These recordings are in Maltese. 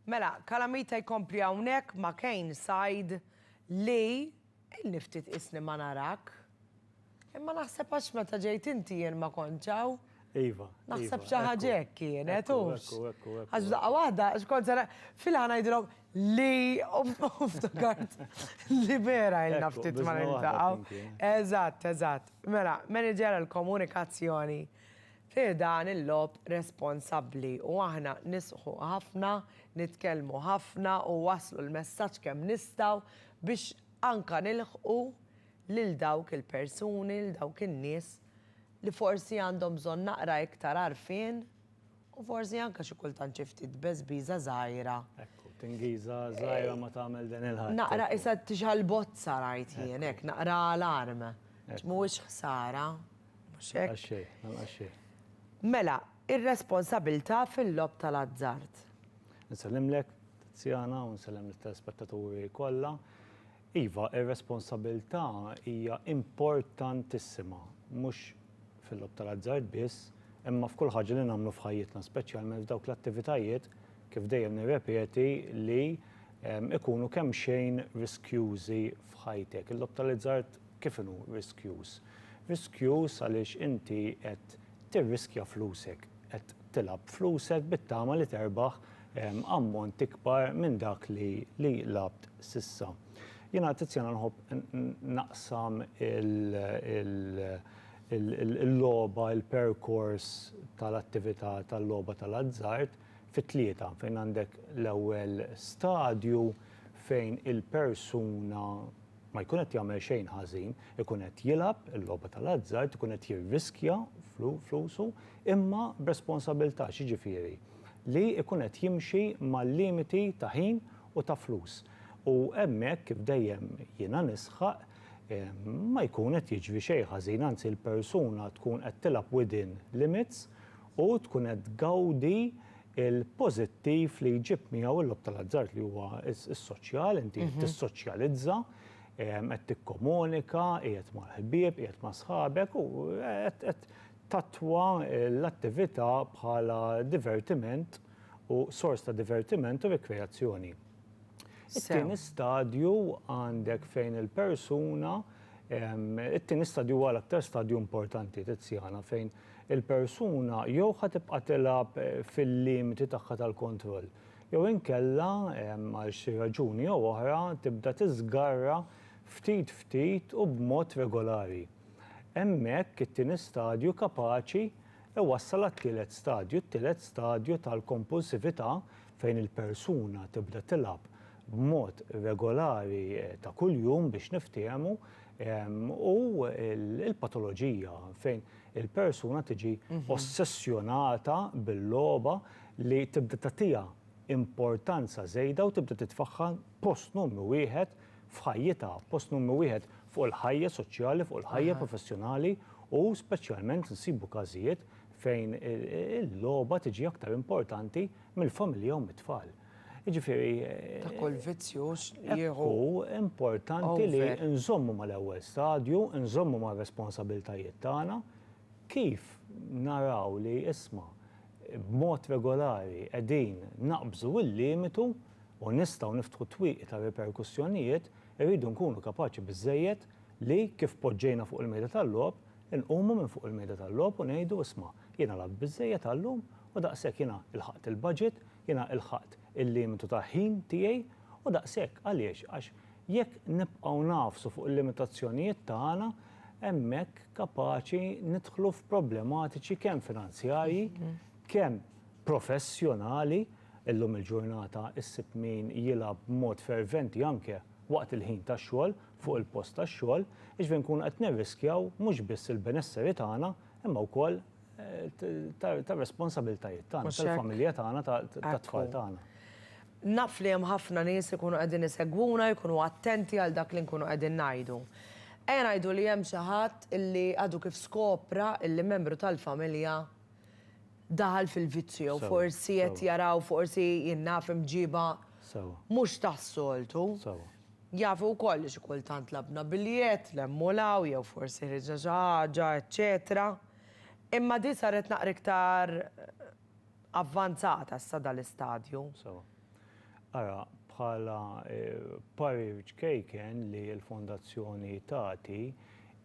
Mela, Calamita jkompli hawnhekk ma' Kane Said li ilni ftit qisni ma narak. Imma naħseb għax meta ġejt inti jien ma kontx hawn. Iva. Naħseb xi ħaġa hekk kienet, hux? Għax f'daqqa waħda, għax kont se filha ngħidilhom li u ftakart li vera ilna ftit ma niltaqgħu. Eżatt, eżatt. Mela, Manager għall-Komunikazzjoni fi ħdan il-logħob responsabbli u aħna nisħu ħafna, nitkellmu ħafna u nwasslu l-messaġġ kemm nistgħu biex anke nilħqu lil dawk il-persuni, lil dawk in-nies li forsi għandhom bżonn naqra iktar għarfien u forsi anke xi kultant xi ftit beżbiża żgħira. Ekku, tingiża żgħira ma tagħmel den il-ħadd. Naqra qisha tixgħal bozza rajt jien hekk, naqra alarm. Għax mhuwiex ħsara. Mhux hekk? Lanqas xejn, lanqas xejn. Mela, ir-responsabilità fil-logħob tal-azzard. Insellimlek, Tiziana, u nsellem lit-telespettaturi kollha. Iva, ir-responsabilità hija importantissima, mhux fil-logħob tal-azzard biss, imma f'kull ħaġa li nagħmlu f'ħajjitna, speċjalment f'dawk l-attivitajiet, kif dejjem nirrepeti, li jkunu kemxejn riskjużi f'ħajtek. Il-logħob tal-azzard Kif inhu riskjuż? Riskjuż għaliex inti qed tirriskja flusek, qed tilgħab b'flusek bit-tama li terbaħ ammont ikbar minn dak li li lgħabt s'issa. Jiena Tiziana nħobb naqsam il-logħba, il-perkors tal-attività tal-logħba tal-azzard fi tlieta fejn għandek l-ewwel stadju fejn il-persuna, ma jkun qed jagħmel xejn ħażin, ikun qed jilgħab il-logħba tal-azzard, ikun qed jirriskja flusu, imma b'responsabilità, x'jiġifieri? Li jkun qed jimxi mal-limiti ta' ħin u ta' flus. U hemmhekk, kif dejjem jiena nisħaq, ma jkun qed jiġri xejn ħażin, anzi l-persuna tkun qed tilgħab within limits u tkun qed tgawdi il-pożittiv li jġib miegħu l-logħob tal-azzard li huwa s-soċjal, inti qed tissoċjalizza, qed tikkomunika, qiegħed mal-ħbieb, qiegħed ma' sħabek u qed tattwa l-attività bħala divertiment u sors ta' divertiment u rikreazzjoni. It-tieni stadju għandek fejn il-persuna, it-tieni stadju huwa l-aktar stadju importanti, Tiziana, fejn il-persuna jew ħa tibqa' tilgħab fil-limiti tagħha tal-kontroll jew inkella, għal xi raġuni jew oħra, tibda tiżgarra ftit ftit u b'mod regolari. Hemmhekk it-tieni stadju kapaċi iwassal għat-tielet stadju, it-tielet stadju tal-kompulsività fejn il-persuna tibda tilgħab b'mod regolari ta' kuljum biex niftiehmu, u l-patoloġija fejn il-persuna tiġi ossessjonata bil-logħba li tibda tagħtiha importanza żejda u tibda titfagħha post numru wieħed f'ħajjitha, post numru wieħed fuq il-ħajja soċjali, fuq il-ħajja professjonali u speċjalment insibu każijiet fejn il-logħba tiġi aktar importanti mill-familja u mit-tfal. Jiġifieri. Ta' kull vizzju jieħu. Hu importanti li nżommu mal-ewwel stadju, nżommu mar-responsabiltajiet tagħna, kif naraw li isma' b'mod regolari qegħdin naqbżu l-limitu u nistgħu niftħu twieqi ta' riperkussjonijiet, irridu nkunu kapaċi biżżejjed li kif poġġejna fuq il-mejda tal-logħob, inqumu minn fuq il-mejda tal-logħob u ngħidu isma' jiena lgħabt biżżejjed għal-lum u daqshekk jiena lħaqt il-budget, Jiena lħaqt il-limitu ta' ħin tiegħi u daqshekk. Għaliex? Għax jekk nibqgħu ngħafsu fuq il-limitazzjonijiet tagħna, hemmhekk kapaċi nidħlu f'problematiċi kemm finanzjarji, kemm professjonali. Illum il-ġurnata ssib min jilgħab b'mod ferventi anke waqt il-ħin tax-xogħol, fuq il-post tax-xogħol, jiġifieri nkunu qed nirriskjaw mhux biss il-benesseri tagħna imma wkoll ta' responsabiltajiet tagħna, tal-familja tagħna, tat-tfal tagħna. Naf li hemm ħafna nies li jkunu qegħdin isegwuna, jkunu attenti għal dak li nkunu qegħdin ngħidu. Ejja ngħidu li hemm xi ħadd li għadu kif skopra li membru tal-familja daħal fil-vizzju jew forsi qed jaraw forsi jien naf imġiba mhux tas-soltu. Jafu wkoll li xi kultant labna biljett, lemmu 'l hawn jew forsi ħriġna xi ħaġa, eċċetera. Imma din saret naqra iktar avvanzata sa dal-istadju. Sewa. Ara, bħala parir ċkejken li l-Fondazzjoni tagħti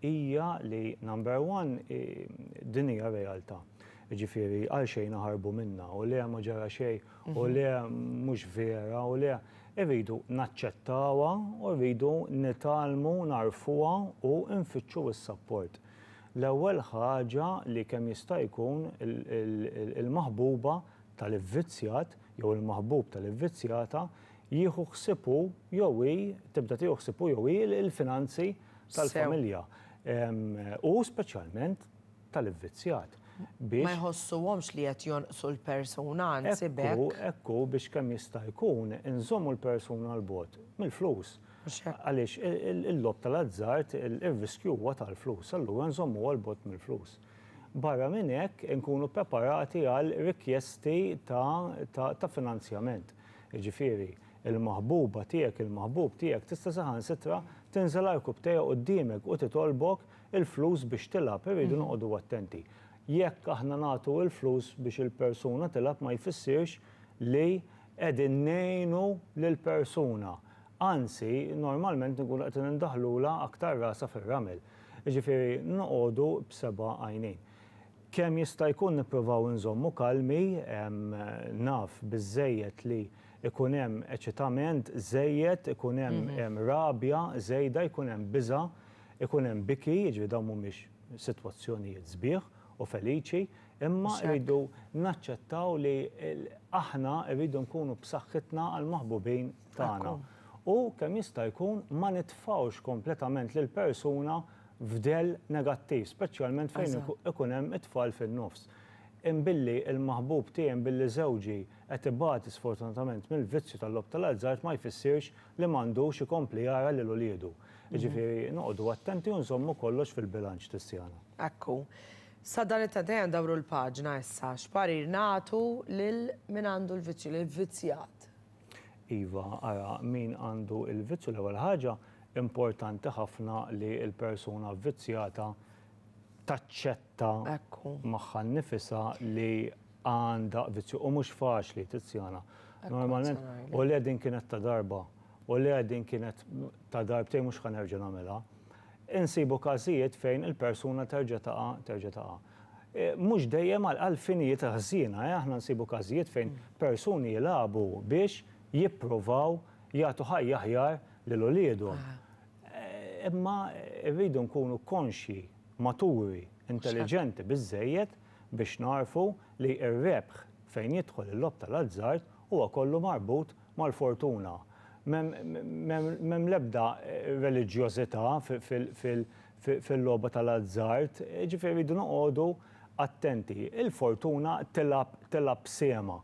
hija li, number one, din hija realtà. Jiġifieri għalxejn naħarbu minnha u le ma ġara xejn u le mhux vera u le, irridu naċċettawha u rridu nitgħallmu nagħrfuha u nfittxu s-sapport. L-ewwel ħaġa li kemm jista' jkun il-maħbuba tal-ivvizzjat jew il-maħbub tal-ivvizzjata jieħu ħsieb hu jew hi, tibda tieħu ħsieb hu jew hi l-finanzi tal-familja u speċjalment tal-ivvizzjat biex. Ma jħossuhomx li qed jonqsu l-persuna, anzi b'hekk. Hekk hu, hekk hu biex kemm jista' jkun inżommu l-persuna 'l bogħod mill-flus. Mhux hekk? Għaliex il-logħob tal-azzard, ir-riskju huwa tal-flus, allura nżommuha 'l bogħod mill-flus. Barra minn hekk, inkunu ppreparati għal rikjesti ta' finanzjament. Jiġifieri, il-maħbuba tiegħek, il-maħbub tiegħek tista' saħansitra tinżel għarkupptejha quddiemek u titolbok il-flus biex tilgħab. Irridu noqogħdu attenti. Jekk aħna nagħtu il-flus biex il-persuna tilgħab ma jfissirx li qegħdin ngħinu lill-persuna. Anzi, normalment inkunu qed indaħħlulha aktar rasha fir-ramel. Jiġifieri noqogħdu b'seba' għajnejn. Kemm jista' jkun nipprovaw inżommu kalmi, naf biżżejjed li jkun hemm eċitament żejjed, ikun hemm rabja żejda, jkun hemm biża', ikun hemm biki, jiġifieri dawn mhumiex sitwazzjonijiet sbieħ u feliċi, imma rridu naċċettaw li aħna rridu nkunu b'saħħitna għall-maħbubin tagħna. U kemm jista' jkun ma nitfgħux kompletament lill-persuna f'dell negattiv, speċjalment fejn ikun hemm it-tfal fin-nofs. Imbilli l-maħbub tiegħi, imbilli żewġi qed ibati sfortunatament mill-vizzju tal-logħob tal-azzard ma jfissirx li m'għandux ikompli jara lil uliedu. Jiġifieri noqogħdu attenti u nżommu kollox fil-bilanċ Tiziana. Hekk hu. Sa dan it-tant ejja ndawru l-paġna issa, x'parir nagħtu lil min għandu l-vizzju, lill-vvizzjat? Iva, ara min għandu l-vizzju l-ewwel ħaġa, importanti ħafna li l-persuna vvizzjata taċċetta magħha nnifisha li għandha vizzju u mhux faċli tizzjana. Normalment, u le din kienet ta' darba, u le din kienet ta' darbtejn mhux ħa nerġa' nagħmilha. Insibu każijiet fejn il-persuna terġa' taqa' terġa' taqa'. Mhux dejjem għal finijiet ħżiena, aħna nsibu każijiet fejn persuni jilagħbu biex jippruvaw jagħtu ħajja aħjar lil uliedhom. Imma rridu nkunu konxji, maturi, intelliġenti biżżejjed biex nagħrfu li r-rebħ fejn jidħol il-logħob tal-azzard huwa kollu marbut mal-fortuna. M'hemm l-ebda reliġjożità fil-logħba tal-azzard, jiġifieri rridu noqogħdu attenti. Il-fortuna tilgħab tilgħab b'sehemha.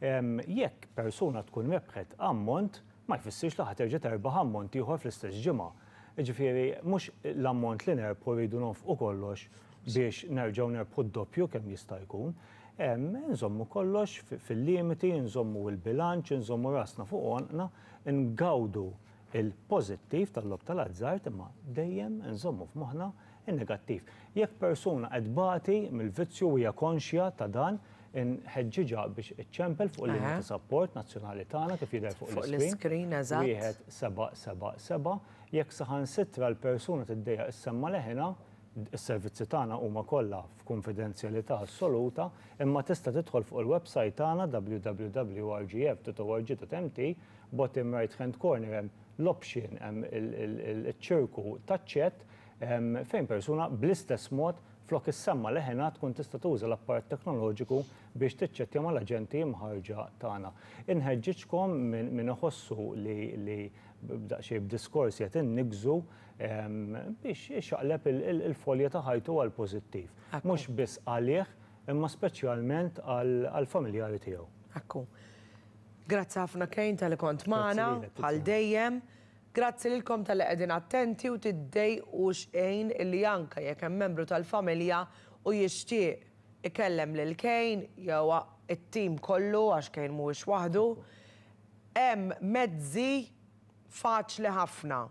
Jekk persuna tkun rebħet ammont, ma jfissirx li ħa terġa' terbaħ ammont ieħor fl-istess ġimgħa. Jiġifieri mhux l-ammont li nerbħu rridu nonfqu kollox biex nerġgħu nerbħu d-doppju kemm jista' jkun. Inżommu kollox fil-limiti, inżommu l-bilanċ, inżommu rasna fuq għonqna, ingawdu il-pożittiv tal-logħob tal-azzard imma dejjem inżommu f'moħħna n-negattiv. Jekk persuna qed tbati mill-vizzju u hija konxja ta' dan, inħeġġiġha biex iċċempel fuq il-linja ta' sapport nazzjonali tagħna kif jidher fuq l-iskrin, wieħed seba' seba' seba'. Jekk saħansitra l-persuna tiddejjaq issemma' leħinha, is-servizzi tagħna huma kollha f'kunfidenzjalità assoluta, imma tista' tidħol fuq il-websajt tagħna www.rgf.org.mt Bottom right hand corner hemm l-option, hemm iċ-ċirku taċ-chat fejn persuna bl-istess mod flok issemma' leħinha tkun tista' tuża l-apparat teknoloġiku biex tiċċettja mal-aġenti mħarrġa tagħna. Inħeġġiġkom min iħossu li b'daqsxejn b'diskors qiegħed inniggżu biex ixaqleb il-folja ta' ħajtu għall-pożittiv. Mhux biss għalih imma speċjalment għall-familjari tiegħu. Hekk hu. Grazzi ħafna Kane tali kont magħna bħal dejjem. Grazzi lilkom tali qegħdin attenti u tiddejqu xejn illi anke jekk hemm membru tal-familja u jixtieq ikellem lil Kane jew it-tim kollu għax Kane mhuwiex waħdu, hemm mezzi faċli ħafna.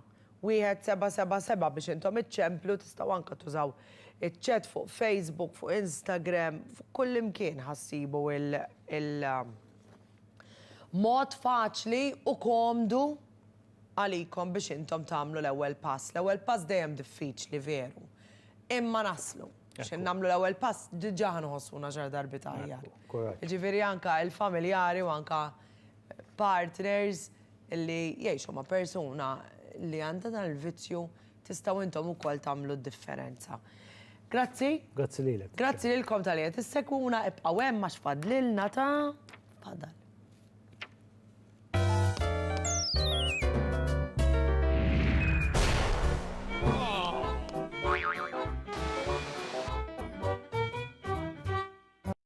Wieħed seba' seba' seba' biex intom iċċemplu tistgħu anke tużaw iċ-chat fuq Facebook, fuq Instagram, fuq kullimkien ħa ssibu il, Mod faċli u komdu għalikom biex intom tagħmlu l-ewwel pass. L-ewwel pass dejjem diffiċli veru, imma naslu. X'in nagħmlu l-ewwel pass diġà ħa nħossuna xar darbiet aħjar. Jiġifieri anke l-familjari u anke partners li jgħixu ma' persuna li għandha dan il-vizzju Tistgħu intom ukoll tagħmlu d-differenza. Grazzi. Grazzi lilek. Grazzi lilkom tal qed issegwuna, ibqgħu hemm għax fadlilna ta' fadal.